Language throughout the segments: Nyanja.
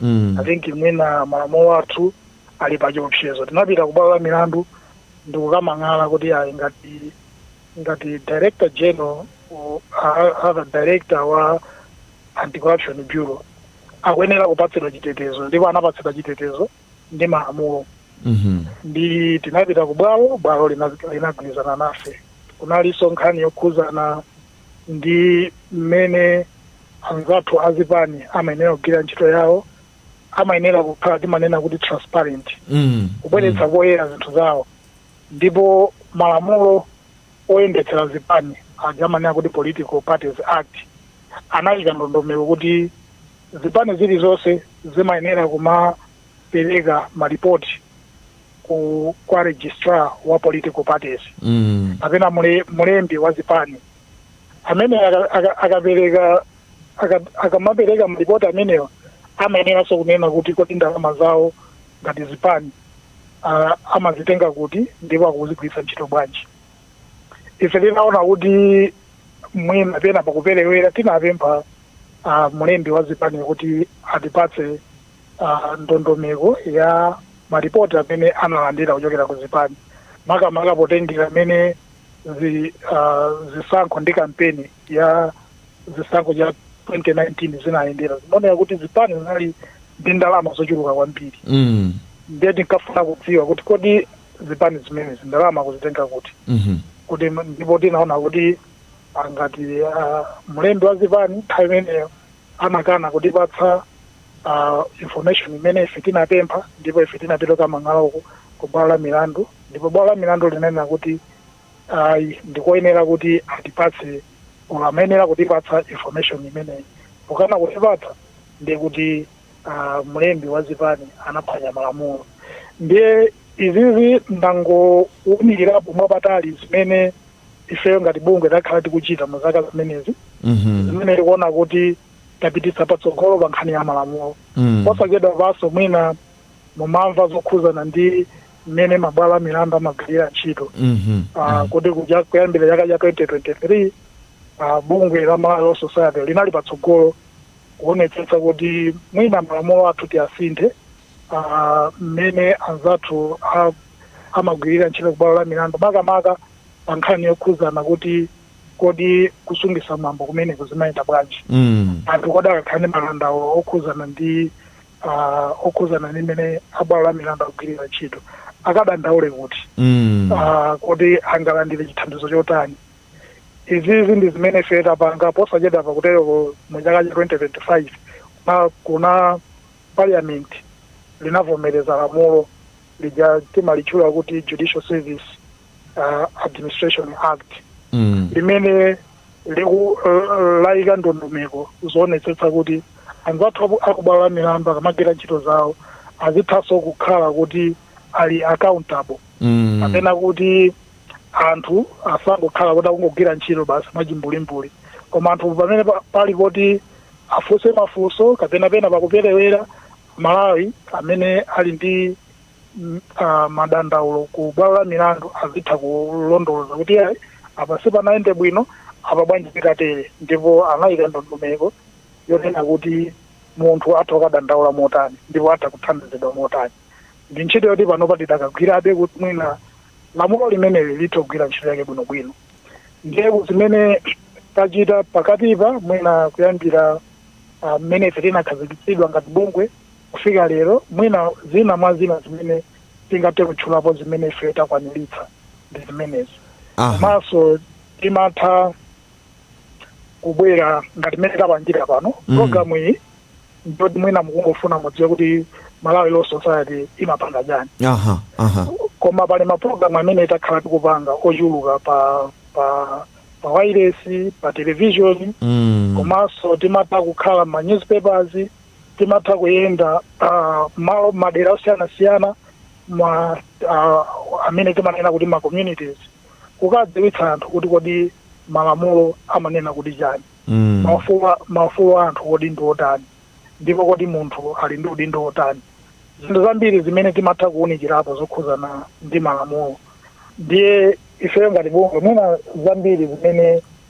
mm. i think mwina malamulo athu ali pa chiopsezo tinapita ku bwalo la milandu ndikukamang'ala kuti ayi ngati ngati director general or a- other director wa anti corruption bureau akuyenera kupatsidwa chitetezo ndipo anapatsidwa chitetezo ndi malamulo Mhm. ndi tinapita ku bwalo bwalo lina- linagwirizana nafe kunalinso nkhani yokhuzana ndi mmene anzathu azipani amayenera kugwira ntchito yawo amayenera kukhala timanena kuti transparent Mm. kubweretsa poyera zinthu zawo ndipo malamulo oyendetsera zipani aja amanena kuti political parties act anayika ndondomeko kuti zipani zilizonse zimayenera kumapereka malipoti ku kwa registrar wa political parties Mm. kapena mule, mulembi wa zipani amene aka- aka- akapereka aka- akamapereka malipoti amenewa amayeneranso kunena kuti kodi ndalama zawo ngati zipani ah, amazitenga kuti ndipo akuzigwiritsa ntchito bwanji ife tinaona kuti mwina pena pakuperewera tinapempha ah, mulembi wa zipani kuti atipatse uh, ndondomeko ya maripoti amene analandira kuchokera ku zipani makamaka potengera mmene zi, uh, zisankho ndi kampeni ya zisankho cha 2019 zinayendera zinaoneka kuti zipani zinali ndi ndalama zochuluka kwambiri mm. ndiye tinkafuna kudziwa kuti kodi zipani zimenezi ndalama akuzitenga kuti mhm. kuti ndipo tinaona kuti ngati uh, mlembi wa zipani nthawi imeneyo anakana kutipatsa uh, information imene ife tinapempha ndipo ife tinapita kukamang'ala ku bwalo la milandu ndipo bwalo la milandu linanena kuti ayi ndikoyenera kuti atipatse or amayenera kutipatsa information imeneyi pokana kutipatsa ndiye kuti uh, mlembi wa zipani anaphwanya malamulo ndiye izizi ndangowunikirapo mwapatalipatali zimene ifeyo ngati bungwe takhala tikuchita mu zaka zimenezi Mhm. zimene tikuona kuti tapititsa patsogolo pa nkhani ya malamulo Mm. posachedwapanso mwina mumamva zokhuzana ndi mmene mabwalo a milandu amagwirira ntchito Mhm. Ah, kuti kuja- kuyambira chaka cha 2023 ah, bungwe la malawi law society linali patsogolo kuonetsetsa kuti mwina malamulo athu tiyasinthe ah, mmene anzathu a- amagwirira ntchito kubwalo la milandu makamaka pa nkhani yokhuzana kuti kodi kusungisa mwambo kumeneko zimayenda bwanji mm. anthu kodi akakhale ndi madandaulo okhuzana ndi uh, okhuzana ndi mmene abwalo la milandu akugwirira ntchito akadandaule kuti mm. uh, kodi angalandire chithandizo chotani izizi ndi zimene ife tapanga posachedwa pakuteroko mu chaka cha 2025 kuna, kuna parliament linavomereza lamulo lija timalitchula kuti judicial service uh, administration act mm. limene liku uh, layika ndondomeko zoonetsetsa kuti anzathu aku- akubwalo la milandu akamagwira ntchito zawo azithanso kukhala kuti ali accountable Mm. kapena kuti anthu asangokhala kuti akungogwira ntchito basi mwachimbulimbuli koma anthu pamene pa- pali poti afunse mafunso kapena pena pakuperewera aMalawi amene ali ndi madandaulo ku bwalo la milandu azitha kulondoloza kuti ayi apa sipanayende bwino apa bwanji tikatere ndipo anayika ndondomeko yonena kuti munthu atha kukadandaula motani ndipo atha kuthandizidwa motani ndi ntchito yoti panopa tidakagwirabe kuti mwina lamulo limeneli lithe kugwira ntchito yake bwinobwino ndiye zimene tachita pakatipa mwina kuyambira mmene ife tinakhazikitsidwa ngati bungwe kufika lero, mwina zina mwa zina zimene tingathe kutchulapo zimene ife takwaniritsa ndi zimenezi Aha. komanso timatha kubwera ngati mmene tapangira pano Mm. programu iyi ndiyoti mwina mukungofuna mudziwe kuti malawi law society imapanga chani aha aha koma pali mapulogalamu amene takhala tikupanga ochuluka pa pa pa wailesi pa televishoni Mm. komanso timatha kukhala ma newspapers timatha kuyenda ah, malo madera osiyanasiyana ma ah, amene timanena kuti ma communities kukadziwitsa anthu kuti kodi malamulo amanena kuti chani Mm. maufulu a- maufulu a anthu kodi ndi otani ndipo kodi munthu ali ndi udindo otani zinthu zambiri zimene timatha kuwunikirapo zokhuzana ndi malamulo ndiye ifeyo ngati bungwe mwina zambiri zimene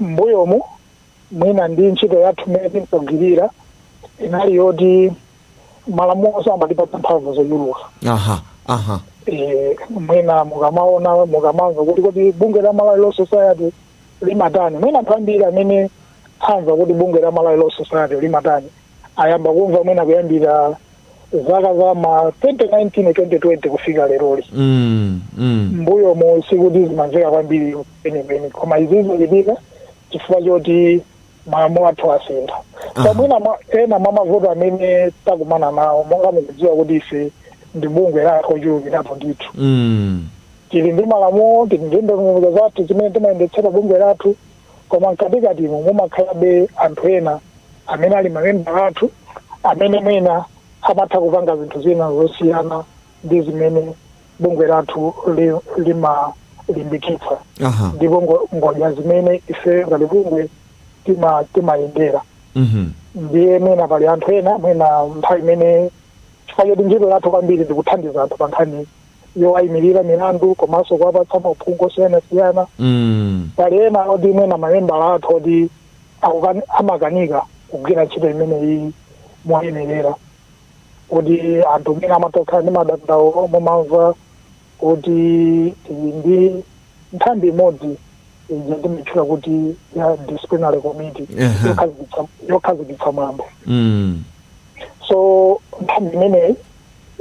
M'mbuyomu, mwina ndi ntchito yathu imene tinkagwirira inali yoti malamulo samatipatsa mphamvu zochuluka. aha aha Eh, mwina mukamaona mukamamva kuti kodi bungwe la Malawi Law Society limatani mwina anthu ambiri amene amva kuti bungwe la Malawi Law Society limatani ayamba kumva mwina kuyambira zaka za ma 2019 2020 kufika leroli mm, mm. mbuyo mu sikuti zimamveka kwambiri penipeni koma izi zochitika chifukwa choti malamulo athu asintha Aha. so mwina mwa- ena mwa mavuto amene takumana nawo monga mukudziwa kuti ife ndi bungwe la anthu ochulukirapo ndithu Mm. tili ndi malamulo tili ndi ndondomeko zathu zimene timayendetsera bungwe lathu koma mkatikatimo mumakhalabe anthu ena amene ali mamembala athu amene mwina amatha kupanga zinthu zina zosiyana ndi zimene bungwe lathu li- limalimbikitsa aha ndipo ngo- ngodya zimene ife ngati bungwe tima- timayendera mhm ndiye mwina pali anthu ena mwina nthawi imene chifukwa choti ntchito yathu kwambiri ndikuthandiza anthu pa nkhani yowayimirira milandu komanso kuwapatsa maphungu osiyanasiyana Mm. pali ena oti mwina mamembala athu oti akukani- amakanika kugwira ntchito imeneyi moyenerera kuti anthu mwina amatokhala ndi madandaulo mumamva kuti tili ndi nthambi imodzi ija timatchula kuti ya disciplinary committee Ehe. yokhazikitsa- yokhazikitsa mwambo Mm. so nthambi imeneyi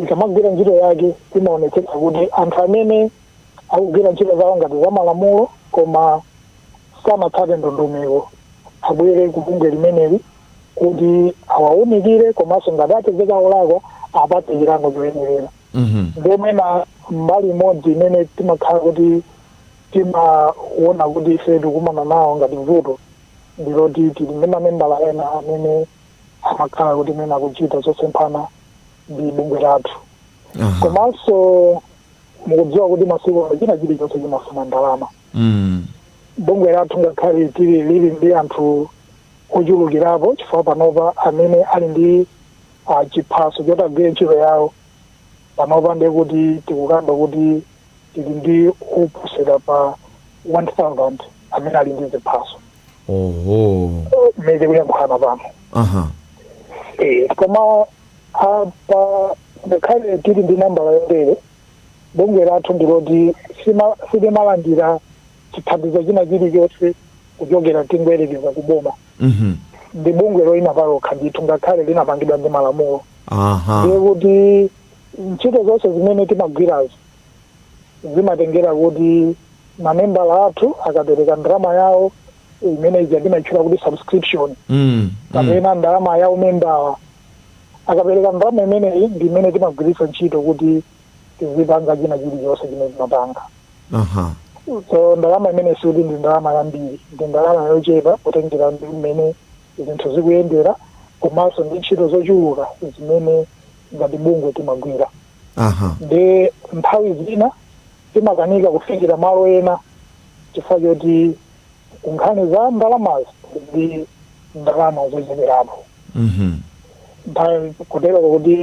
ikamagwira ntchito yake imaonetsetsa kuti anthu amene akugwira ntchito zawo ngati za malamulo koma sanatsate ndondomeko abwere ku bungwe limeneli kuti awaunikire komanso ngati apezeka olakwa apatsidwe chilango choyenerera Mhm. nde mwina mbali imodzi imene timakhala kuti timaona kuti ife tikumana nawo ngati vuto ndiloti tili ndi mamembala ena amene amakhala kuti mwina akuchita zosemphana ndi bungwe lathu Aha. komanso mukudziwa kuti masiku ano china chilichonse chimafuna ndalama Mm. bungwe lathu ngakhale tili lili ndi anthu ochulukirapo chifukwa panopa amene ali ndi ah, chiphaso choti agwire ntchito yawo panopa ndiye kuti tikukamba kuti tili ndi oposera pa 1000 amene ali ndi ziphaso oho mmene tikuyankhulana pano aha Eh, koma apa ngakhale tili ndi nambala yotere bungwe lathu ndiloti sima- silimalandira chithandizo china chilichonse kuchokera tingoyerekeza kuboma mhm ndi bungwe loyima palokha ndithu ngakhale linapangidwa ndi malamulo aha ndiye kuti ntchito zonse zimene timagwirazo zimatengera kuti mamembala athu akapereka ndalama yawo imene ija timaitchula kuti subscription mm, mm. kapena mm. ndalama ya umembala akapereka ndalama imeneyi ndi imene timagwiritsa ntchito kuti tizipanga china chilichonse chimene timapanga uh-huh. so ndalama imene sikuti ndi ndalama yambiri ndi ndalama yochepa kutengera ndi mmene zinthu zikuyendera komanso ndi ntchito zochuluka zimene ngati bungwe timagwira aha ndi nthawi zina timakanika kufikira malo ena chifukwa choti nkhani za ndalamazo ndi ndalama zocheperapo mhm kotereko kuti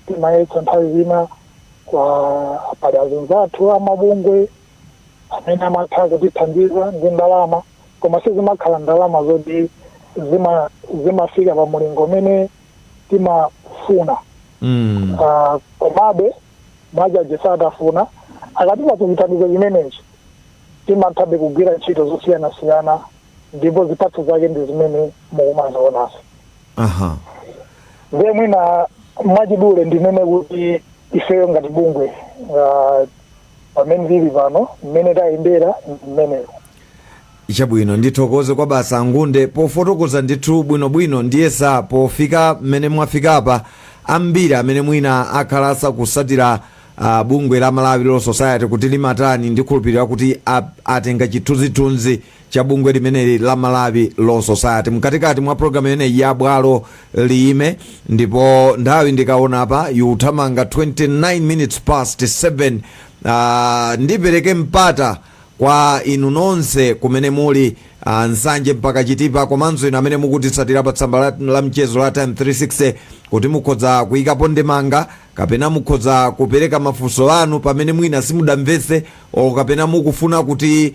timayesetsa nthawi zina koma pali azinzathu amabungwe amene amatha kutithandiza ndi ndalama koma sizimakhala ndalama zoti zima- zimafika pa mulingo umene timafuna Mm. Ah, komabe mwa kaja satafuna akatipatsa chithandizo chimenechi timathabe kugwira ntchito zosiyanasiyana ndipo zipatso zake ndi zimene mukumazionazi Aha. ndiye mwina mwachidule ndinene kuti ifeyo ngati bungwe ah, Pamene tili pano, mmene tayendera ndi mmenemo. Chabwino, ndithokoze kwabasi a Ngunde pofotokoza ndithu bwinobwino ndiyesa pofika mmene mwafikapa ambiri amene mwina akhala asakutsatira a bungwe la Malawi Law Society kuti limatani ndikhulupirira kuti a, atenga chithunzithunzi cha bungwe limeneli la malawi law society mkatikati mwa programu imeneyi ya bwalo liyime ndipo nthawi ndikaona apa ikuthamanga 29 minutes past 7 uh, ndipereke mpata kwa inu nonse kumene muli uh, nsanje mpaka chitipa komanso inu amene mukutitsatira pa tsamba la, la mchezo la times 360 kuti mukhoza kuyikapo ndemanga kapena mukhoza kupereka mafunso anu pamene mwina simudamvetse o kapena mukufuna kuti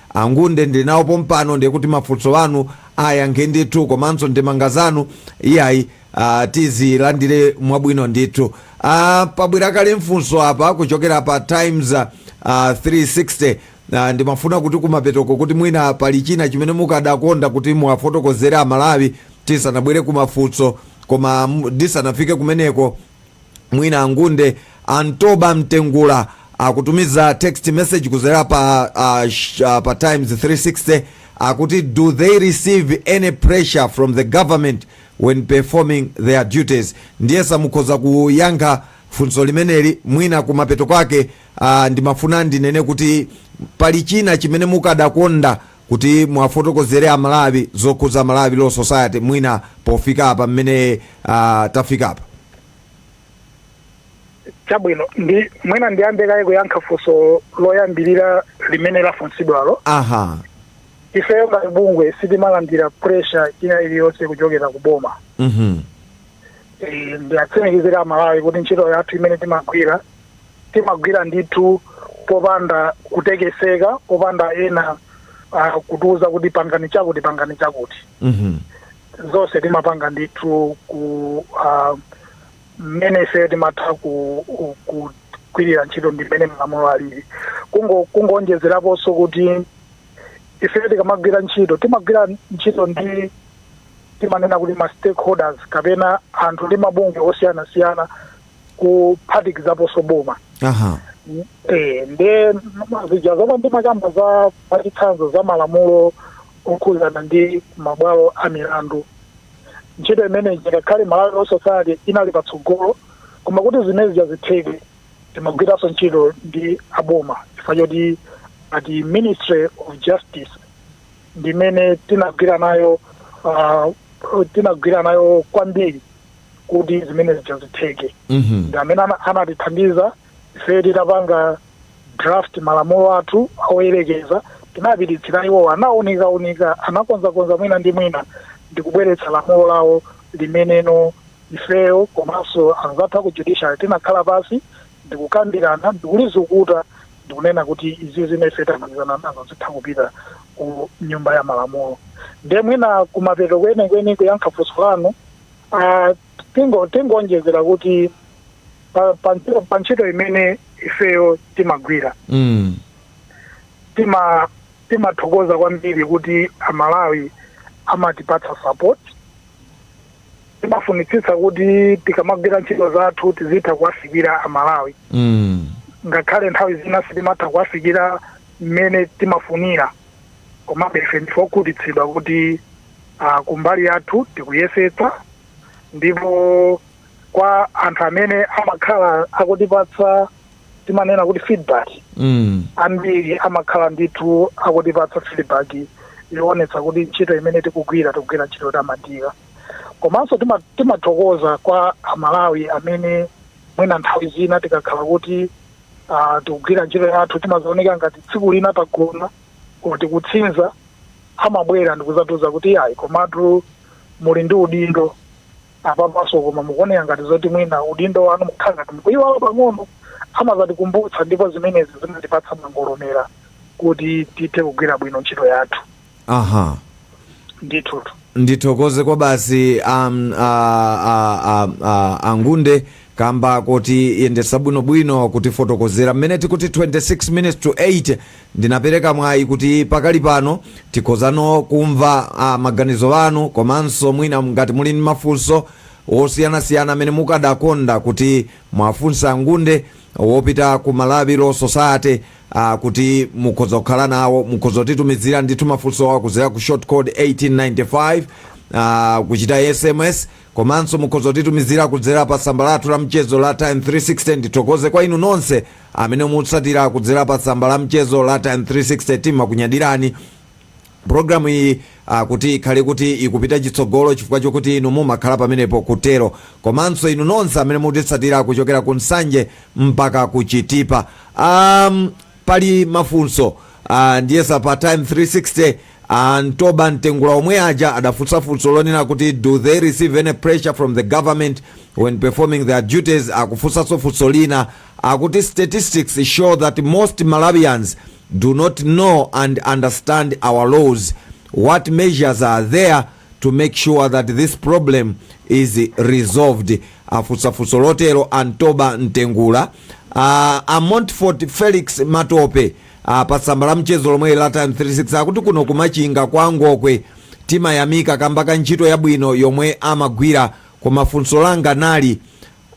Angunde ndili nawo pompano ndiye kuti mafunso anu ayankhe ndithu komanso ndemanga zanu iyayi uh, tizilandire mwabwino ndithu uh, pabwera kale mfunso apa kuchokera pa times uh, 360 uh, ndimafuna kuti kumapetoko kuti mwina pali china chimene mukadakonda kuti muwafotokozere amalawi tisanabwere kumafunso koma m- ndisanafike kumeneko mwina angunde antoba mtengula akutumiza text message kudzera pa, uh, sh, uh, pa times 360 akuti do they receive any pressure from the government when performing their duties ndiyesa mukhoza kuyankha funso limeneli mwina kumapeto kwake uh, ndimafuna ndinene kuti pali china chimene mukadakonda kuti muwafotokozere a Malawi zokhudza Malawi Law Society mwina pofika apa mmene uh, tafika apa chabwino ndi mwina ndiyambe kaye kuyankha funso loyambirira limene lafunsidwalo aha ifeyo ngati bungwe sitimalandira pressure ina iliyonse kuchokera ku boma mhm Eh, ndiwatsimikizire amalawi kuti ntchito yathu imene timagwira timagwira ndithu popanda kutekeseka popanda ena uh, kutiuza kuti pangani chakuti pangani chakuti Mhm. zonse timapanga ndithu ku ah, mmene ife timatha ku- ku- kugwirira ntchito ndi mmene malamulo alili Kungo- kungoonjezeraponso kuti ife tikamagwira ntchito timagwira ntchito ndi timanena kuti ma stakeholders kapena anthu ndi mabungwe osiyanasiyana kuphatikizaponso boma aha Eh, nde zija zomwe ndimakamba za pachitsanzo za malamulo okhudzana ndi mabwalo a milandu ndi ntchito imene ngakhale malawi law society inali patsogolo koma kuti zimene zija zitheke timagwiranso ntchito ndi aboma chifukwa choti a ministry of justice ndimene tinagwira nayo ah, tinagwira nayo kwambiri kuti zimene zija zitheke Mhm. ndi amene ana- anatithandiza ife titapanga draft malamulo athu oyerekeza tinapititsira iwo anaunika unika anakonzakonza mwina ndi mwina ndi kubweretsa lamulo lawo limenelo ifeyo komanso anzathu aku judiciary tinakhala pansi ndikukambirana ndikulizukuta ndikunena kuti izi zimene ife tagwirizana nazo zitha kupita ku nyumba ya malamulo ndiye mwina kumapeto kwenikweni kuyankha funso lanu Ah, tingo tingoonjezera kuti pa- pa pa ntchito imene ifeyo timagwira Mm. tima timathokoza kwambiri kuti amalawi amatipatsa support timafunitsitsa kuti tikamagwira ntchito zathu tizitha kuwafikira amalawi Mm. ngakhale nthawi zina sitimatha kuwafikira mmene timafunira komabe ife ndife okhutitsidwa kuti a, kumbali yathu tikuyesetsa ndipo kwa anthu amene amakhala akutipatsa timanena kuti feedback mm. ambiri amakhala ndithu akutipatsa feedback yoonetsa kuti ntchito imene tikugwira tikugwira ntchito yotamandika komanso tima- timathokoza kwa amalawi amene mwina nthawi zina tikakhala kuti ah, tikugwira ntchito yathu timadzaoneka ngati tsiku lina tagona kuti kutsinza amabwera ndikuzatiuza kuti iyayi komatu muli ndi udindo apapaso koma mukuoneka ngati zoti mwina udindo wanu mukhala ngati mukuyiwala pang'ono amazatikumbutsa ndipo zimenezi zimatipatsa mangolomera kuti tithe kugwira bwino ntchito yathu aha ndithutu ndithokoze kwabasi um, a, a, a, a, angunde Kamba kotiyendesa bwinobwino kutifotokozera mmene tikuti 26 minutes to 8 ndinapereka mwayi kuti pakali pano tikhozano kumva maganizo anu komanso mwina ngati muli ndi mafunso wosiyanasiyana amene mukadakonda kuti mwafunsa angunde wochita ku malawi law society uh, kuti mukhoza kukhala nawo mukhoza kutitumizira ndithu mafunso awo kuzera ku short code 1895 uh, kuchita sms Komanso mukhoza kutitumizira kudzera pa tsamba lathu la mchezo la Times 360. Ndithokoze kwa inu nonse amene mutsatira kudzera pa tsamba la mchezo la Times 360. Timakunyadirani programu iyi ah, kuti ikhale kuti ikupita chitsogolo chifukwa chokuti inu mumakhala pamenepo kutero komanso inu nonse amene mutitsatira kuchokera ku nsanje mpaka ku chitipa um, Pali mafunso ah, ndiyesa pa times 360 ah, ntoba mtengula omwe aja adafunsa funso lonena kuti do they receive any pressure from the government when performing their duties akufunsanso funso lina akuti statistics show that most malawians do not know and understand our laws what measures are there to make sure that this problem is resolved afunsa funso lotero a ntoba mtengula uh, a montfort felix matope uh, pa tsamba la mchezo lomwe la times 360 akuti kuno ku machinga kwa ngokwe timayamika kamba ka ntchito yabwino yomwe amagwira koma funso langa nali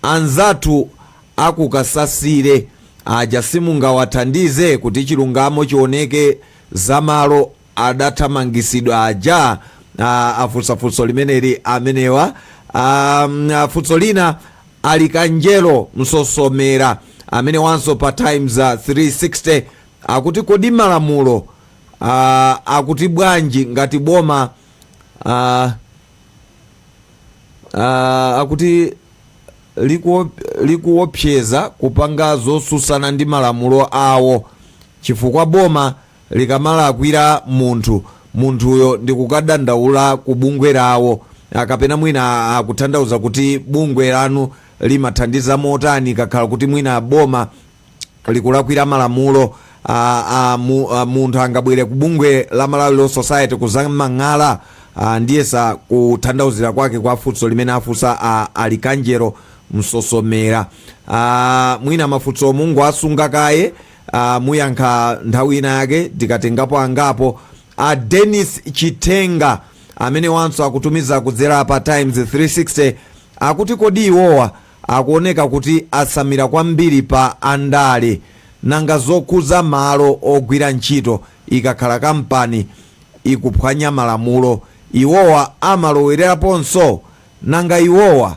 anzathu a ku kasasire aja simungawathandize kuti chilungamo chioneke za malo adathamangitsidwa aja a, afunsa funso limeneli amenewa um, a, funso lina alikanjelo msosomera amenewanso pa times uh, 360 akuti kodi malamulo uh, akuti bwanji ngati boma uh, uh, akuti likuo- likuopseza kupanga zosusana ndi malamulo awo chifukwa boma likamalakwira munthu, munthuyo ndikukadandaula ku bungwe lawo, ah, kapena mwina akutanthauza kuti bungwe lanu limathandiza motani kakakhala kuti mwina boma likulakwira malamulo ah, ah, mu- ah, munthu angabwere ku bungwe la Malawi Law Society kuzamang'ala ah, ndiyesa kutanthauzira kwake kwa funso limene afunsa ah, alikanjero msosomera ah, mwina mafunso mungowasunga kaye Ah, muyankha nthawi ina yake tikatengapo angapo a denis chitenga amene wanso akutumiza kudzera pa times 360 akuti kodi iwowa akuoneka kuti asamira kwambiri pa andale nanga zokhuza malo ogwira ntchito ikakhala kampani ikuphwanya malamulo iwowa amalowereraponso nanga iwowa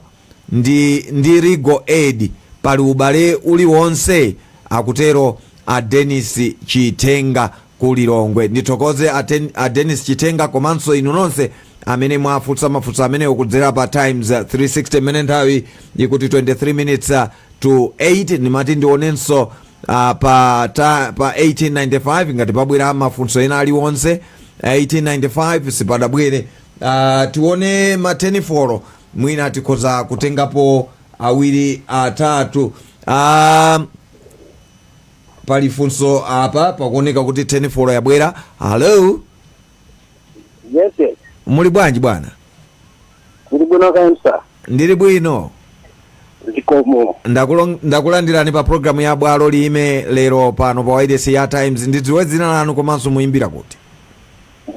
ndi, ndi Legal Aid pali ubale uliwonse? Akutero a Dennis Chitenga ku Lilongwe. Ndithokoze a, Den, a Dennis Chitenga komanso inu nonse amene mwafunsa mafunso amenewo kudzera pa Times uh, 360 mmene nthawi ikuti 23 minutes uh, to 8 ndimati ndionenso uh, pa, ta, pa 1895 ngati pabwera mafunso ena aliwonse 1895 sipadabwere uh, tione ma call mwina tikhoza kutengapo awiri atatu ah, pali funso apa pakuoneka kuti telefoni yabwera hello yes yes muli bwanji bwana ndili bwino kaya ndili bwino zikomo Ndakulo- ndakulandirani pa programu ya bwalo liyime lero pano pa wailesi ya times ndidziwe dzina lanu komanso muyimbira kuti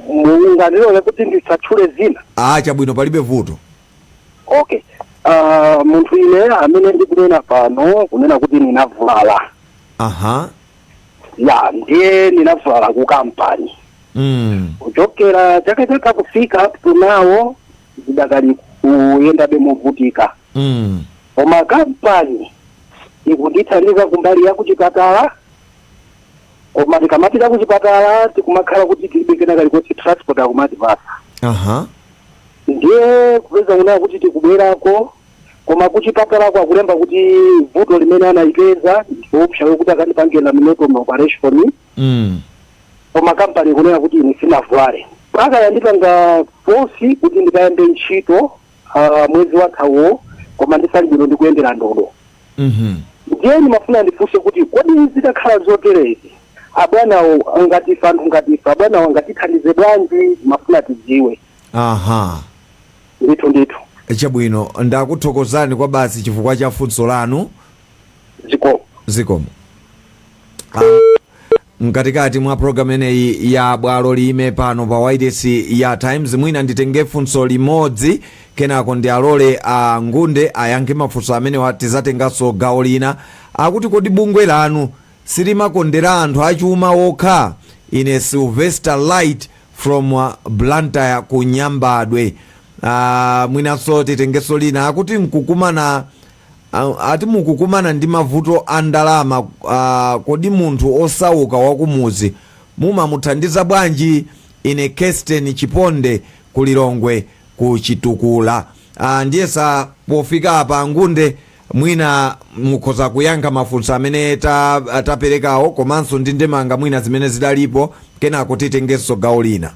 mungandilole kuti ndisatchule dzina Ah, chabwino palibe vuto. okay uh, munthu ine amene ndikunena pano kunena kuti ninavulala Aha. ya ndiye ninavulala ku kampani Mm. kuchokera chaka chatha kufika up to now ndidakali kuyendabe movutikira Mm. koma kampani ikundithandiza kumbali ya kuchipatala koma tikamafika kuchipatala tikumakhala kuti tilibe kena kalikonse transport akumatipasa aha ndiye kupezeka kunena kuti tikubwerako koma kuchipatalako akulemba kuti vuto limene analipeza ndi loopsa lokuti akandipange laminectomy operation mm. koma kampani kunena kuti ine sinavulale mpaka yandipanga fosi kuti ndikayambe ntchito ah, mwezi wathawo koma ndisali bwino ndikuyendera ndodo Mhm. ndiye ndimafuna ndifunse kuti kodi zitakhala zoterezi abwanawo ngati ife anthu ngati ife abwanawo angatithandize bwanji ndimafuna tidziwe aha ndithu ndithu chabwino ndakuthokozani kwabasi chifukwa cha funso lanu zikomo zikomo Ah, Mkatikati mwa program imeneyi ya bwalo liyime pano pa wailesi ya Times, mwina nditenge funso limodzi kenako ndialole a Ngunde ayankhe mafunso amenewa. Tizatenganso gawo lina. Akuti kodi bungwe lanu silimakondera anthu achuma okha? Ine Sylvester Light from Blantyre ku Nyambadwe. Ah, mwinanso titengenso lina. Akuti kuku Ati mukukumana ndi mavuto a ndalama, kodi munthu osauka wakumudzi mumamuthandiza bwanji? Ine Kesten Chiponde ku Lilongwe ku Chitukula. Ndiyesa pofika apa Ngunde mwina mukhoza kuyankha mafunso amene taperekawo komanso ndi ndemanga mwina zimene zidalipo, kenako titengenso gawo lina.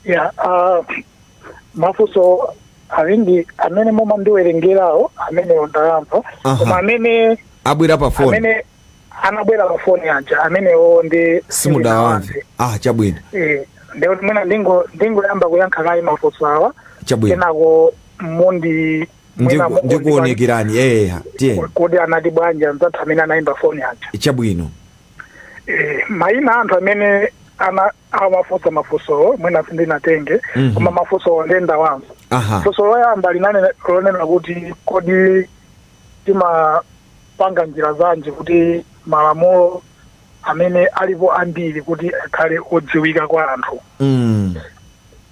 ya ah, mafunso awiri amene mumandiwerengerawo amenewo ndayamva Aha. koma amene abwera pa foni amene anabwera pa foni aja amenewo nde simudawamve ah chabwino Eh, ndekuti mwina ndingo- ndingoyamba kuyankha kaye mafunso awa chabwino kenako mundi mwina Ndiku- mukundi- ndikuonekerani eya tiyeni kodi anati bwanji anzathu amene anayimba foni aja chabwino Eh, maina a anthu amene ana amafunsa mafunsowo mwina sindinatenge Mhm. koma mafunsowo nde ndawamva aha funso loyamba linali lonena kuti kodi timapanga njira zanji kuti malamulo amene alipo ambiri kuti akhale odziwika kwa anthu mm.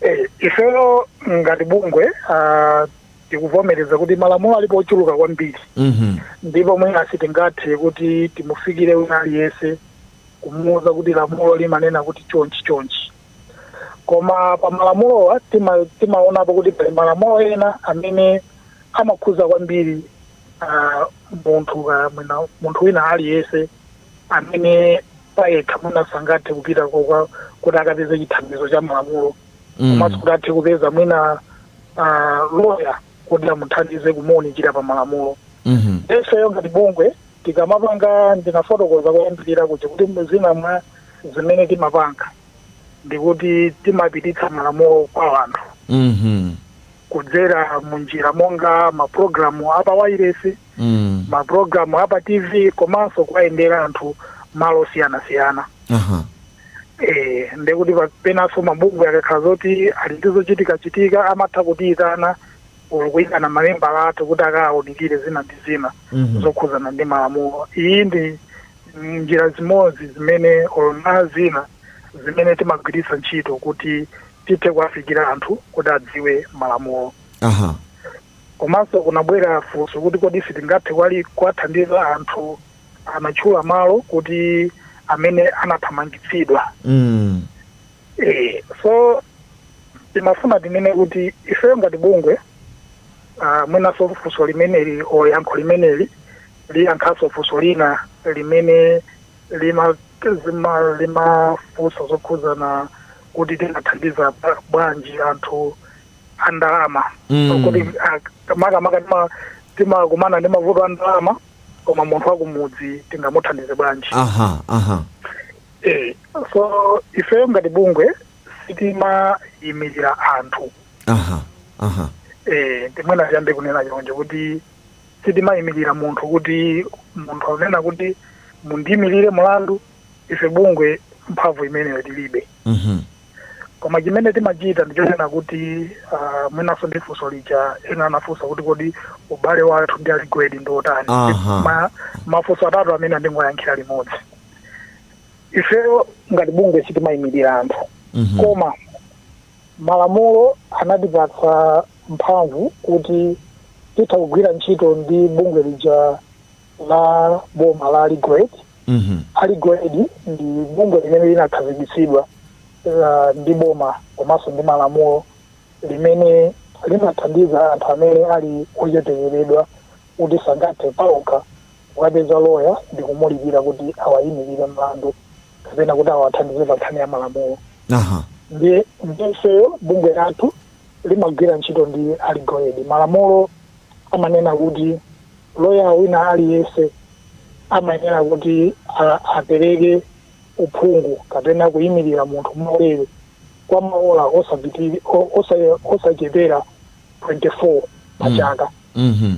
Eh, ifeyo ngati bungwe ah, tikuvomereza kuti malamulo alipo ochuluka kwambiri Mhm. ndipo mwina sitingathe kuti timufikire wina aliyense kumuwuza kuti lamulo limanena kuti chonchi chonchi koma pa malamulowa tima- timaonapo kuti pali malamulo ena amene amakhuza kwambiri ah, munthu ka- mwina- munthu wina aliyense amene payekha mwina sangathe kupita ko- kwa kuti akapeze chithandizo cha malamulo Mm. komanso kuti athe kupeza mwina ah, loya kuti amuthandize kumuunikira pa malamulo Mhm. ifeyo ngati bungwe tikamapanga ndinafotokoza kuyambirira kuti kuti zina mwa zimene timapanga ndikuti timapititsa malamulo kwa anthu Mhm. kudzera mu njira monga mapulogalamu apa wairesi Mm. mapulogalamu apa tv komanso kuwayendera anthu malo osiyanasiyana Aha. Eh, ndekuti pa- penanso mabungwe akakhala zoti ali ndi zochitikachitika amatha kutiyitana olo kuyitana mamembala athu kuti akawunikire zina ndi zina Mhm. zokhudzana ndi malamulo iyi ndi njira zimodzi zimene olo ndi zina zimene timagwiritsa ntchito kuti tithe kuwafikira anthu kuti adziwe malamulo aha komanso kunabwera funso kuti kodi sitingathe kwa- kuwathandiza anthu anatchula mawu oti amene anathamangitsidwa mm. e, so timafuna tinene kuti ifeyo ngati bungwe uh, mwinaso funso limeneli o yankho limeneli liyankhaso funso lina limene lima zima limafunsa zokhuzana kuti tingathandiza bwa- bwanji anthu andalama Mm. kuti ah, makamaka tima- timakumana ndi mavuto andalama koma munthu wakumudzi tingamuthandize bwanji aha aha eh, so ifeyo ngati bungwe sitimayimirira anthu aha aha eh, ndi mwina tiyambe kunena chonje kuti sitimayimirira munthu kuti munthu akunena kuti mundiyimirire mulandu ife bungwe mphamvu imeneyo tilibe Mhm. koma chimene timachita ndichonena kuti uh, mwinanso ndi funso lija ena anafunsa kuti kodi ubale wathu ndi a legal aid ndi otani Aha. Ma, mafunso atatu amene ndingowayankhira limodzi ifeyo ngati bungwe sitimayimirira anthu Mhm. koma malamulo anatipatsa mphamvu kuti titha kugwira ntchito ndi bungwe lija la boma la legal aid Mhm. a legal aid ndi bungwe limene linakhazikitsidwa la- ndi boma komanso ndi malamulo limene limathandiza anthu amene ali ochepekeredwa kuti sangathe paokha kukapeza loya ndi kumulipira kuti awayimirire mlandu kapena kuti awathandize pa nkhani ya malamulo aha ndiye ifeyo bungwe lathu limagwira ntchito ndi a legal aid malamulo amanena kuti loya wina aliyense amayenera kuti apereke uphungu kapena kuyimirira munthu mwaulere kwa maola osachepera 24 pa mm. chaka mm -hmm.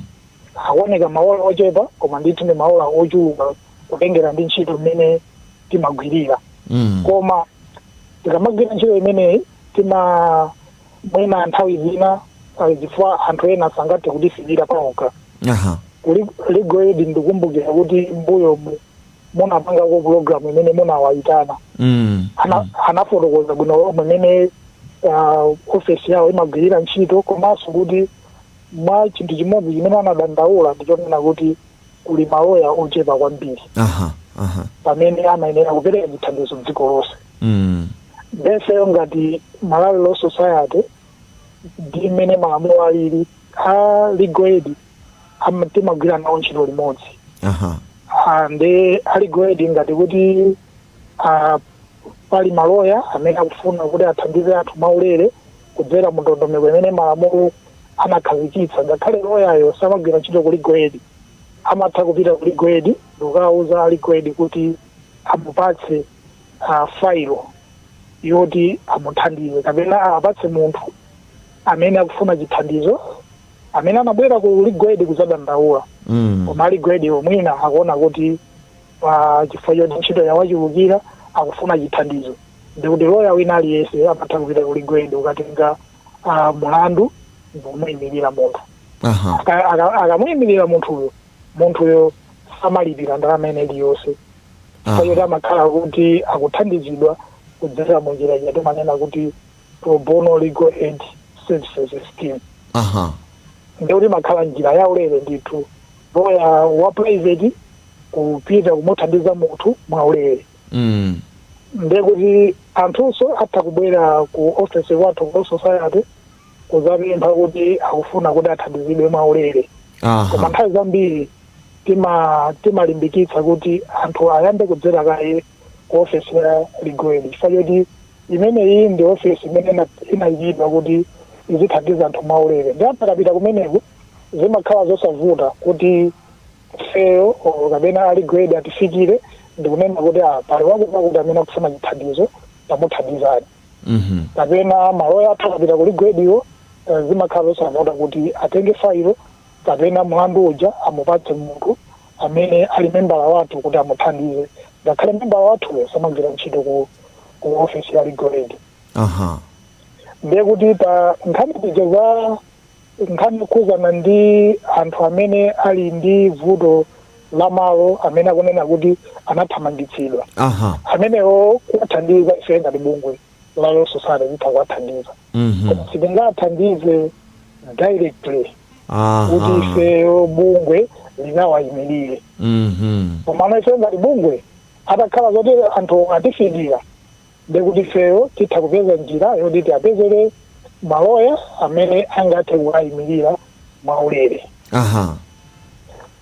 akuoneka maola ochepa koma ndithu ndi maola ochuluka kutengera ndi ntchito imene timagwirira mm. koma tikamagwira ntchito imeneyi tima mwina nthawi zina pali zifukwa anthu ena sangathe kutifikira paokha aha Kuli- legal aid ndikumbukira kuti mbuyo mu- munapangako pulogalamu imene munawayitana mm. Ana- anafotokoza bwino lomwe mmene ah, ofesi yawo imagwirira ntchito komanso kuti mwa chinthu chimodzi chimene anadandaula ndichonena kuti kuli maloya ochepa kwambiri aha aha pamene amayenera kupereka chithandizo mdziko lonse mm. nde ifeyo ngati malawi law society ndi mmene malamulo alili a legal aid ama- timagwira nawo ntchito limodzi aha Ah, ndi a legal aid ngati kuti ah, pali maloya amene akufuna kuti athandize anthu mwaulere kudzera mu ndondomeko imene malamulo anakhazikitsa ngakhale loyayo samagwira ntchito ku Legal Aid amatha kupita ku Legal Aid ndikukawuza a Legal Aid kuti amupatse uh, failo yoti amuthandize kapena apatse munthu amene akufuna chithandizo amene anabwera ku Legal Aid kuzadandaula Mm. koma a Legal Aid mwina akuona kuti pa chifukwa choti ntchito yawachulukira akufuna chithandizo ndikuti loya wina aliyense amatha kupita ku Legal Aid kukatenga ah, mulandu ndikumuyimirira munthu aha Aka- aka- akamuyimirira munthuyo munthuyo samalipira ndalama ina iliyonse Aha. chifukwa choti amakhala kuti akuthandizidwa kudzera mu njira ija timanena kuti pro bono legal aid services scheme aha ndikuti imakhala njira yaulere ndithu loya wa private kupita kumuthandiza munthu mwaulere mm. ndekuti anthunso atha kubwera ku office kwathu ku society kuzapempha kuti akufuna kuti athandizidwe mwaulere koma aha nthawi zambiri tima timalimbikitsa kuti anthu ayambe kudzera kaye ku ofesi ya Legal Aid chifukwa choti imeneyi ndi ofesi imene ina- inayikidwa kuti izithandiza anthu mwaulere ndi anthu akapita kumeneko zimakhala zosavuta kuti ifeyo or kapena a Legal Aid atifikire ndikunena kuti ah, pali wakuti wakuti amene akufuna chithandizo tamuthandizani Mhm. kapena maloya athu akapita ku Legal Aid iwo eh, zimakhala zosavuta kuti atenge failo kapena mlandu uja amupatse munthu amene ali membala wathu kuti amuthandize ngakhale membala wathuyo samagwira ntchito ku, ku ofesi ya legal aid Aha. ndiye kuti pa nkhani zija za Nkhani yokhuzana ndi anthu amene ali ndi vuto la malo amene akunena kuti anathamangitsidwa. Aha. Amenewo kuwathandiza ife ngati bungwe la Law Society titha kuwathandiza. Mhm. Koma sitingawathandize directly kuti Aha. ifeyo bungwe likawayimirire. Mhm. Koma ife ngati bungwe atakhala zoti anthu atifikira ndiye kuti ifeyo titha kupeza njira yoti tiwapezere maloya amene angathe kuwayimirira mwaulere aha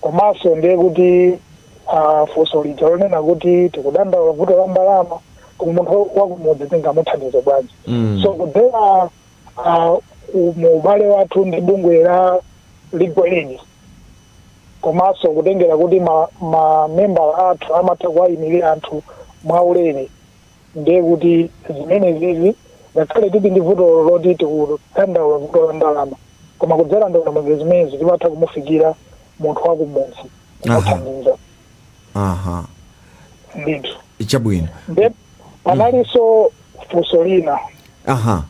komanso ndiye kuti ah, funso lija lonena kuti tikudandaula vuto la ndalama koma munthu wakumudzi tingamuthandize bwanji Mm. so kudzera ah, u- mu ubale wathu ndi bungwe la legal aid komanso kutengera kuti ma- mamembala athu amatha kuwayimirira anthu mwaulere ndiye kuti zimenezizi ngakhale tili ndi vuto loti tikudandaula vuto la ndalama koma kudzera ndondomeko zimenezi timatha kumufikira munthu wa kumudzi Aha. kumuthandiza aha ndithu chabwino nde panalinso funso lina aha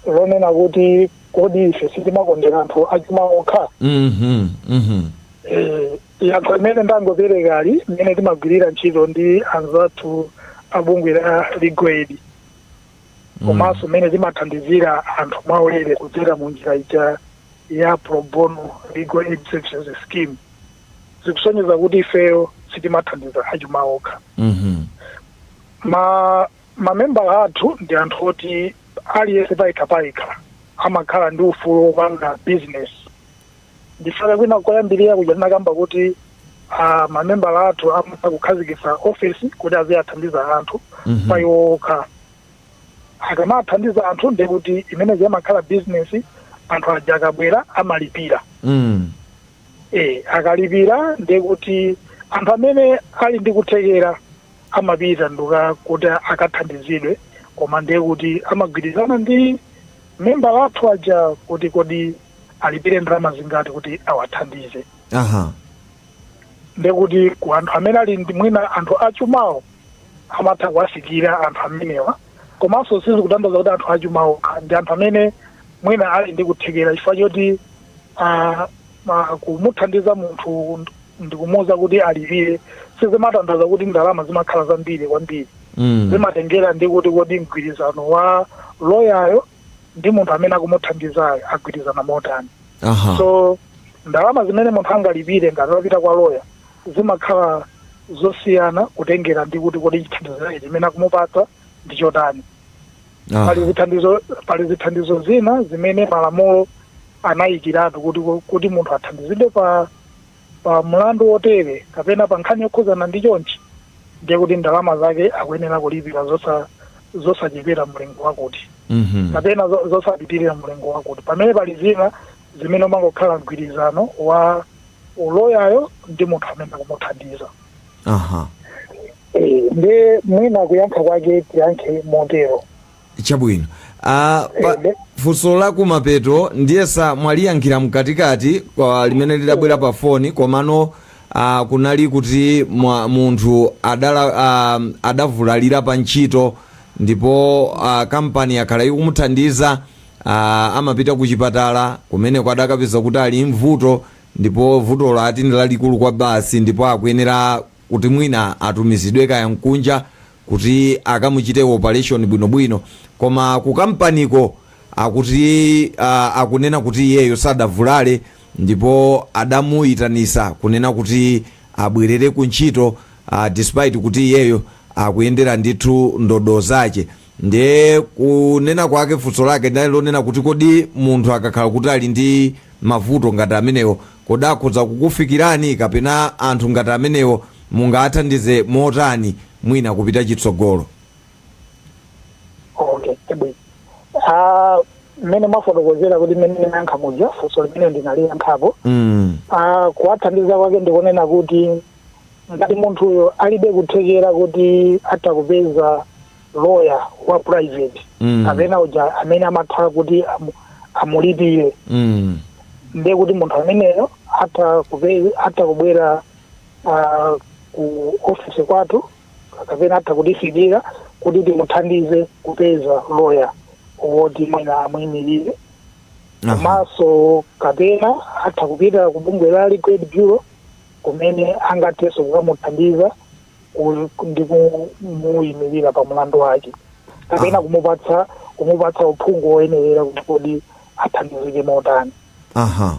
lonena kuti kodi ife sitimakondera anthu achuma okha mhm mhm Eh, Yankho limene ndangoperekali mmene timagwirira ntchito ndi anzathu a bungwe la Legal Aid komanso mmene mm. timathandizira anthu mwaulere kudzera mu njira ija ya pro bono legal aid services scheme zikusonyeza kuti ifeyo sitimathandiza achuma okha mm -hmm. ma mamembala athu ndi anthu oti aliyense payekha payekha amakhala ndi ufulu wopanga business ndipo kwina koyambirira kuja tinakamba kuti ah, mamembala athu amatha kukhazikitsa ofesi kuti aziwathandiza anthu Mhm. pa iwo okha akamathandiza anthu ndiye kuti imeneyo imakhala bizinesi anthu aja akabwera amalipira Mm. eh akalipira ndiye kuti anthu amene ali ndi kuthekera amapita ndu kukuti akathandizidwe koma ndiye kuti amagwirizana ndi membala wathu uja kuti kodi alipire ndalama zingati kuti awathandize aha ndekuti ku anthu amene ali ndi mwina anthu achumawo amatha kuwafikira anthu amenewa komanso sizikutanthauza kuti anthu achumawo okha ndi anthu amene mwina ali ndi kuthekera chifukwa choti ah, ma- kumuthandiza munthu nd- ndikumuwuza kuti alipire sizimatanthauza kuti ndalama zimakhala zambiri kwambiri mm. zimatengera ndi kuti kodi mgwirizano wa loyayo ndi munthu amene akumuthandizayo agwirizana motani Aha. so ndalama zimene munthu angalipire ngati wapita kwa loya zimakhala zosiyana kutengera ndi kuti kodi chithandizo chake chimene akumupatsa ndi chotani Aha. pali zithandizo pali zithandizo zina zimene malamulo anayikiratu kuti kuti munthu athandizidwe pa pa mlandu wotere kapena pa nkhani yokhudzana ndi chonchi ndiye kuti ndalama zake akuyenera kulipira zosa zosachepera mlingo wakuti Mhm. kapena zo- zosapitirira mlingo wakuti pamene pali zina zimene umangokhala mgwirizano wa loyayo ndi munthu amene akumuthandiza aha Eh, ndiye mwina kuyankha kwake tiyankhe motero Chabwino. Ah, pa, Ebe. funso la kumapeto ndiyesa mwaliyankhira mkatikati limene lidabwera pa foni komano ah, kunali kuti mwa, munthu adala, ah, adavulalira pa ntchito ndipo ah, kampani yakhala ikumuthandiza ah, amapita ku chipatala kumeneko adakapeza kuti ali ndi vuto ndipo vutolo ati ndi lalikulu kwabasi ndipo akuyenera kuti mwina atumizidwe kaya kunja kuti akamuchite opaleshoni bwinobwino koma kukampaniko akuti uh, akunena kuti iyeyo sadavulale ndipo adamuyitanisa kunena kuti abwerere ku ntchito uh, despite kuti iyeyo akuyendera ndithu ndodo zace ndiye kunena kwake funso lake linali lonena kuti kodi munthu akakhala kuti ali ndi mavuto ngati amenewo Kodi akhoza kukufikirani kapena anthu ngati amenewo mungawathandize motani mwina kupita chitsogolo? Okay, chabwino. Ah, mmene mwafotokozera kuti mmene ndinayankha muja funso limene ndinaliyankhapo Mm. Ah, kuwathandiza kwake ndikunena kuti ngati munthuyo alibe kuthekera kuti atha kupeza lawyer wa private Mm. kapena uja amene amakhala kuti amu- amulipire Mm. ndiye kuti munthu ameneyo atha kupe- atha kubwera ah, ku ofisi kwathu kapena atha kutifikira kuti timuthandize kupeza loya woti mwina amuyimirire Aha. komanso kapena atha kupita ku bungwe la Legal Aid Bureau kumene angathenso kukamuthandiza ku- ndi kumuyimirira pa mlandu wake kapena kumupatsa kumupatsa uphungu woyenerera kuti kodi athandizike motani aha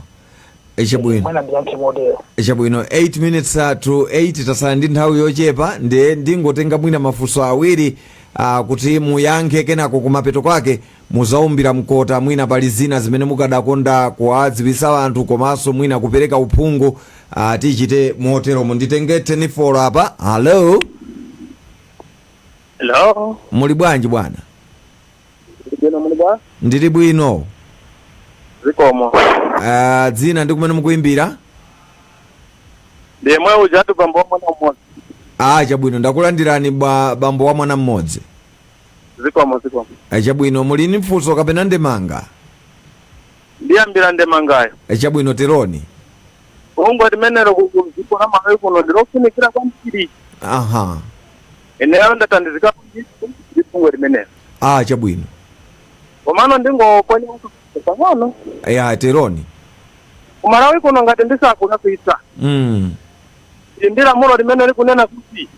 Eh, chabwino mwina ndiyankhe motero chabwino 8 minutes uh, to 8 tasala ndi nthawi yochepa ndiye ndingotenga mwina mafunso awiri uh, kuti muyankhe kenako kumapeto kwake Muzaumbira mkota mwina pali zina zimene mukadakonda kuwadziwitsa anthu komanso mwina kupereka uphungu uh, tichite moteromo nditenge telefoni apa hallo Hello. muli bwanji bwana Ndili bwino muli bwa? ndili bwino Zikomo. uh, dzina ndi kumene mukuimbira Ndemwe ujatu bambo wa mwana mmodzi. ah chabwino ndakulandirani ba, bambo wa mwana mmodzi zikomo zikomo Eh, chabwino muli ndi funso kapena ndemanga ndiyambira ndemangayo Eh, chabwino teroni bungwe limenelo kudziko la malawi kuno ndilofunikira kwambiri aha ineyo ndathandizikapo ndithu ndi bungwe limenelo ah chabwino komano ndingoponya pang'ono ya teroni kumalawi kuno ngati ndisakulakwitsa mm. ndi lamulo limene likunena kuti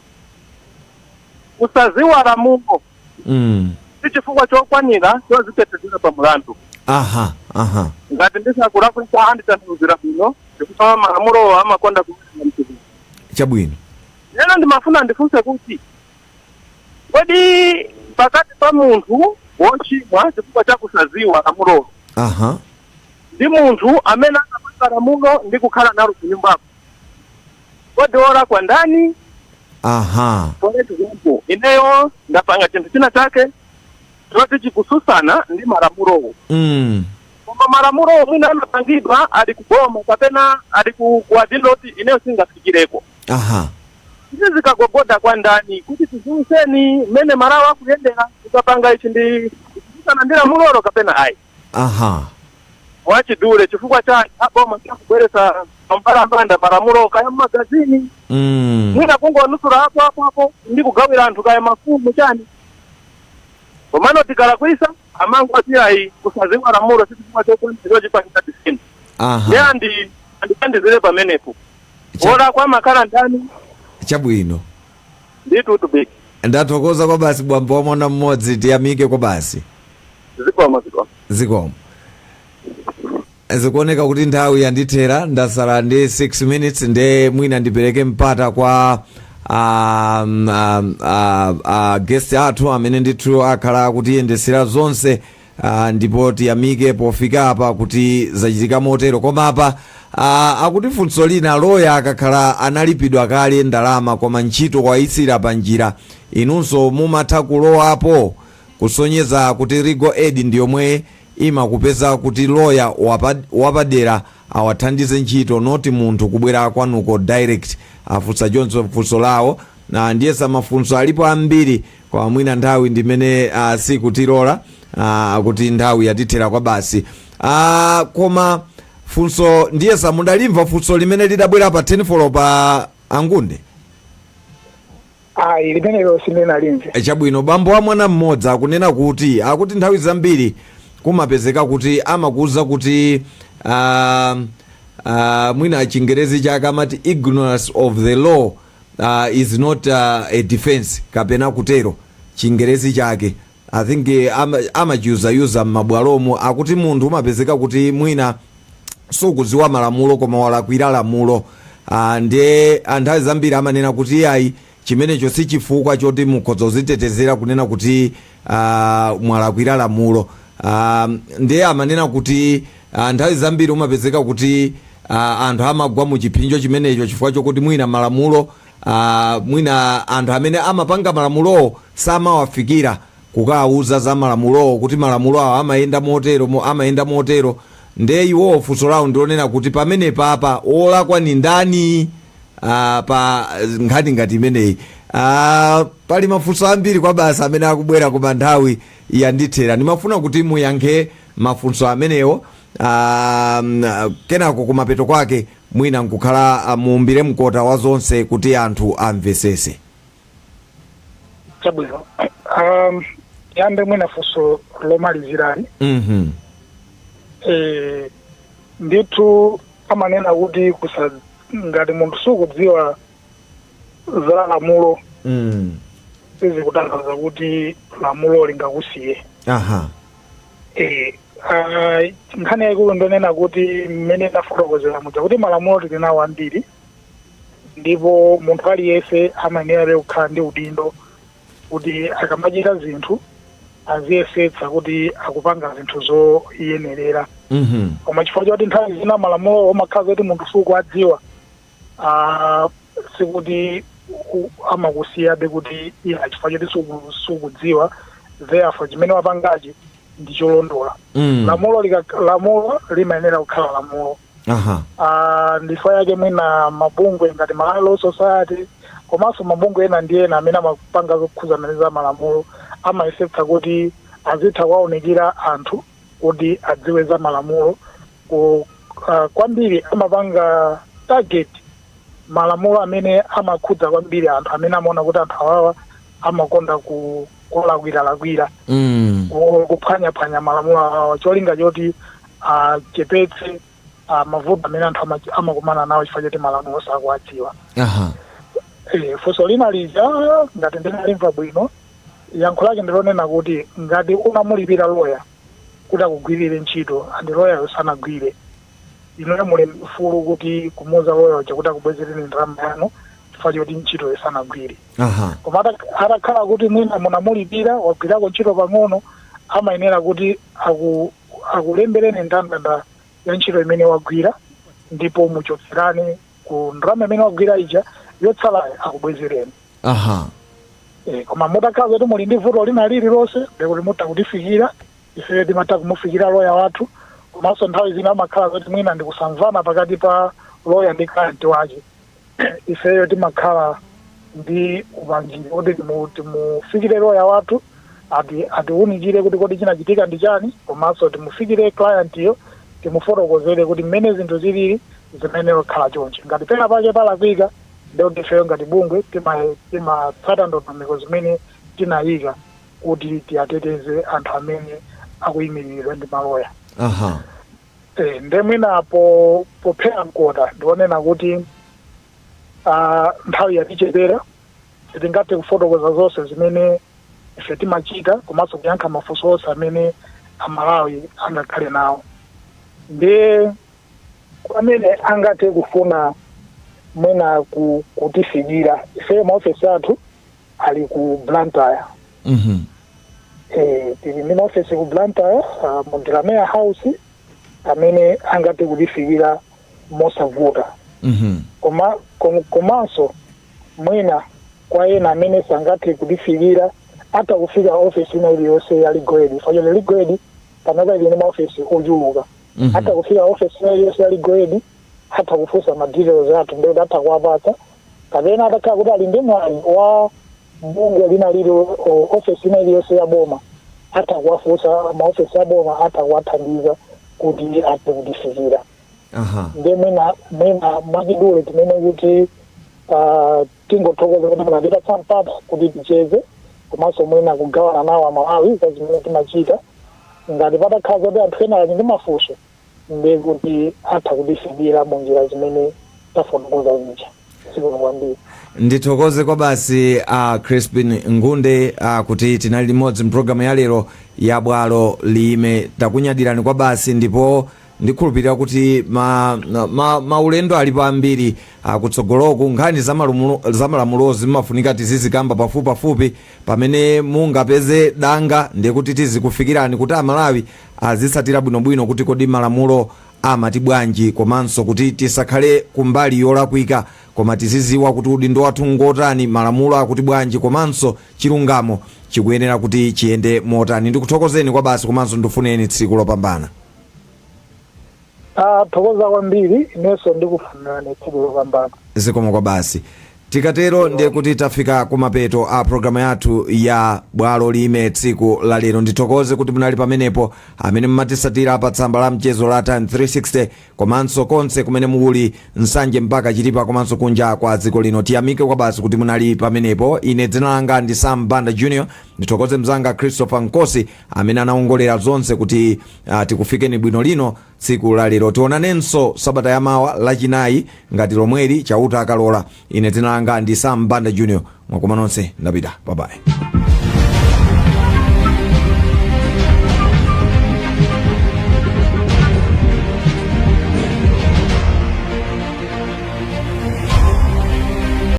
kusaziwa lamulo mm. si chifukwa chokwanira chozitetezera pa mulandu aha aha ngati ndisakulakwisa anditanthauzira bwino chifukwa malamulowo amakonda kuaa mtukuko chabwino lero ndimafuna ndifunse kuti kodi pakati pa munthu wochimwa chifukwa cha kusaziwa lamulowo aha ndi munthu amene anapanga lamulo ndi kukhala nalo kunyumbako kodi wolakwa ndani aha for example ineyo ndapanga chinthu china chake choti chikususana ndi malamulowo mm. koma malamulowo mwina anapangidwa ali kuboma kapena ali ku- kuwadindo kuti ineyo singafikireko aha izi zikagogoda kwa ndani kuti tiziwisenni mmene malamulo akuyendera tikapanga ichi ndi kususana ndi lamulo kapena ayi Aha. mwachidule chifukwa chani aboma kubweretsa pambalambanda malamulo kaya mmagazini Mm. mwina kungomasulira apo apo apo ndi kugawira anthu kaya mafumu chani komano tikalakwisa amangoti iyayi kusaziwa lamulo sichifukwa chokanira chipanisa tisini Aha. ndi andi andithandizire pamenepo Cha- olakwa amakhala ndani Chabwino. ndithu big ndathokoza kwa basi bambo wa mwana mmodzi tiyamike kwa basi zikomo zikomo zikomo zikuoneka kuti nthawi yandithera ndasala ndi 6 minutes nde mwina ndipereke mpata kwa um, um, uh, uh, guest athu amene ndithu akhala akutiyendesera zonse Ah, ndipo tiyamike pofika apa kuti zachitika motero koma apa ah, akuti funso lina loya akakhala analipidwa kale ndalama koma ntchito wayisiya pa njira inunso mumatha kulowapo kusonyeza kuti legal aid ndi yomwe imakupeza kuti loya wapa- wapadera awathandize ntchito noti munthu kubwera kwanuko direct afunsa choncho funso lawo na ndiyesa mafunso alipo ambiri Koma mwina nthawi ndimene uh, sikutilola uh, kuti nthawi yatithera kwa basi uh, koma funso ndiyesa mudalimva funso limene lidabwera pa 10 folo pa angunde ayi limenelo sindinalimve E, chabwino bambo wa mwana mmodzi akunena kuti akuti nthawi zambiri kumapezeka kuti amakuuza kuti uh, uh, mwina chingerezi chake amati ignorance of the law uh, is not uh, a defense kapena kutero chingerezi chake i think eh, ama- amachiyuzayuza m'mabwalomo akuti munthu umapezeka kuti mwina sukudziwa malamulo koma walakwira lamulo Ah, ndiye a nthawi zambiri amanena kuti iyayi chimenecho si chifukwa choti mukhoza kuzitetezera kunena kuti ah, mwalakwira lamulo ah, ndiye amanena kuti ah, nthawi zambiri umapezeka kuti ah, anthu amagwa mu chipsinjo chimenecho chifukwa chokuti mwina malamulo ah, mwina anthu amene amapanga malamulowo samawafikira kukawauza za malamulowo kuti malamulo awo amayenda motero mo- amayenda motero ndiye iwowo funso lawo ndilonena kuti pamenepapa wolakwa ni ndani ah, pa nkhani ngati imeneyi ah, pali mafunso ambiri kwabasi amene akubwera koma nthawi yandithera ndimafuna kuti muyankhe mafunso amenewo ah, mm, ah, kenako kumapeto kwake mwina nkukhala ah, muumbire mkota wa zonse kuti anthu amvesese chabwino um, yambe mwina funso lomalizirali mhm eh, ndithu amanena kuti kusa ngati munthu sukudziwa za lamulo mm. sizikutanthauza kuti lamulo lingakusiye aha Eh, ah, nkhani yaikulu ndonena kuti mmene ndafotokozera muja kuti malamulo tili nawo ambiri ndipo munthu aliyense amayenerabe kukhala ndi udindo kuti akamachita zinthu aziyesetsa kuti akupanga zinthu zoyenerera Mhm. koma chifukwa choti nthawi zina malamulo umakhala zoti munthu sukuwadziwa ah, sikuti u- amakusiyabe kuti iya chifukwa choti suku- sukudziwa therefore chimene wapangachi ndi cholondola Mm. lamulo lika- lamulo limayenera kukhala lamulo aha Ah, ndichifukwa chake mwina mabungwe ngati Malawi Law Society komanso mabungwe ena ndi ena amene amapanga zokhuzana ndi za malamulo amayesetsa kuti azitha kuwaunikira anthu kuti adziwe za malamulo ku, ah, kwambiri amapanga target malamulo amene amakhudza kwambiri anthu amene amaona kuti anthu awawa amakonda ku- kulakwiralakwira mm. ku- kuphwanyaphwanya malamulo awawa cholinga choti achepetse ah, mavuto amene anthu ama- amakumana nawo chifukwa choti malamulo sakuwadziwa aha Eh, funso lina lija ngati ndinalimva bwino yankho lake ndilonena kuti ngati unamulipira loya kuti akugwirire ntchito andi loyayo sanagwire inuyo muli mfulu kuti kumuuza loya uja kuti akubwezereni ndalama yanu chifukwa choti ntchitoyo sanagwire aha koma ata- atakhala kuti mwina munamulipira wagwirako ntchito pang'ono amayenera kuti aku akulembereni ndandanda ya ntchito imene wagwira ndipo muchotserane ku ndalama imene wagwira ija yotsalayo akubwezereni aha Eh, koma mutakhala zoti muli ndi vuto lina lililonse ndekuti mutha kutifikira ife timatha kumufikira loya wathu komanso nthawi zina zimakhala zoti mwina ndikusamvana pakati pa loya ndi client wake ifeyo timakhala ndi upangiri woti timu- timufikire loya wathu ati atiwunikire kuti kodi chinachitika ndi chani komanso timufikire clientyo timufotokozere kuti mmene zinthu zilili zimayenera kukhala chonchi ngati pena pake palakwika ndekuti ifeyo ngati bungwe tima- timatsata ndondomeko zimene tinayika kuti tiwateteze anthu amene akuyimiliridwa ndi maloya aha Eh, nde mwina po pophera mkota ndi wonena kuti ah, nthawi yatichepera sitingathe kufotokoza zonse zimene ife timachita komanso kuyankha mafunso onse amene aMalawi angakhale nawo ndiye kwa amene angathe kufuna mwina ku- kutifikira ife maofesi athu ali ku Blantyre Mhm. Eh, tili ndi maofesi ku Blantyre uh, mu Delamere House amene angathe kutifikira mosavuta Mhm. koma kom- komanso mwina kwa ena amene sangathe kutifikira atha kufika ofesi ina iliyonse ya Legal Aid fachole Legal Aid panopa ili ndi maofesi ochuluka Mhm. atha kufika ofesi ina iliyonse ya Legal Aid atha kufunsa ma details athu ndikuti atha kuwapatsa kapena atakhala kuti ali ndi mwayi wa bungwe lina lili o- ofesi ina iliyonse ya boma atha kuwafunsa maofesi a boma atha kuwathandiza kuti athe kutifikira aha nde mwina mwina mwachidule tinene kuti ah, tingothokoza kuti munatipatsa mpata kuti ticheze komanso mwina kugawana nawo aMalawi za zimene timachita ngati patakhala zoti anthu ena ali ndi mafunso ndiye kuti atha kutifikira munjira zimene tafotokoza zija zikomo kwambiri ndithokoze kwabasi a uh, Crispin Ngunde uh, kuti tinali limodzi mpulogalamu ya lero ya Bwalo Liime takunyadirani kwabasi ndipo ndikhulupirira kuti maulendo ma, ma maulendo alipo ambiri akutsogoloku nkhani zamalumulo- zamalamulozi zimafunika tizizikamba pafupipafupi pamene mungapeze danga ndiye kuti tizikufikirani kuti aMalawi azitsatira bwinobwino kuti kodi malamulo amati bwanji komanso kuti tisakhale kumbali yolakwika koma tiziziwa kuti udindo wathu ngotani malamulo akuti bwanji komanso chilungamo chikuyenera kuti chiyende motani ndikuthokozeni kwabasi komanso ndikufunireni tsiku lopambana Tathokoza kwambiri, inenso ndikufunirani tsiku lopambana. Zikomo kwabasi. Tikatero ndiye kuti tafika kumapeto a programu yathu ya Bwalo Liime tsiku la lero. Ndithokoze kuti munali pamenepo amene mumatisatira pa tsamba la mchezo la Times 360 komanso konse kumene muli Nsanje mpaka Chitipa komanso kunja kwa dziko lino. Tiyamike kwabasi kuti munali pamenepo. Ine dzina langa ndi Sam Banda Junior. Ndithokoze mzanga Christopher Nkosi amene anawongolera zonse kuti Ah, tikufikeni bwino lino tsiku la lero tionanenso sabata ya mawa lachinayi ngati lomweli chauta akalola ine dzina langa ndi Sam Banda Junior mwakoma nonse ndapita babayi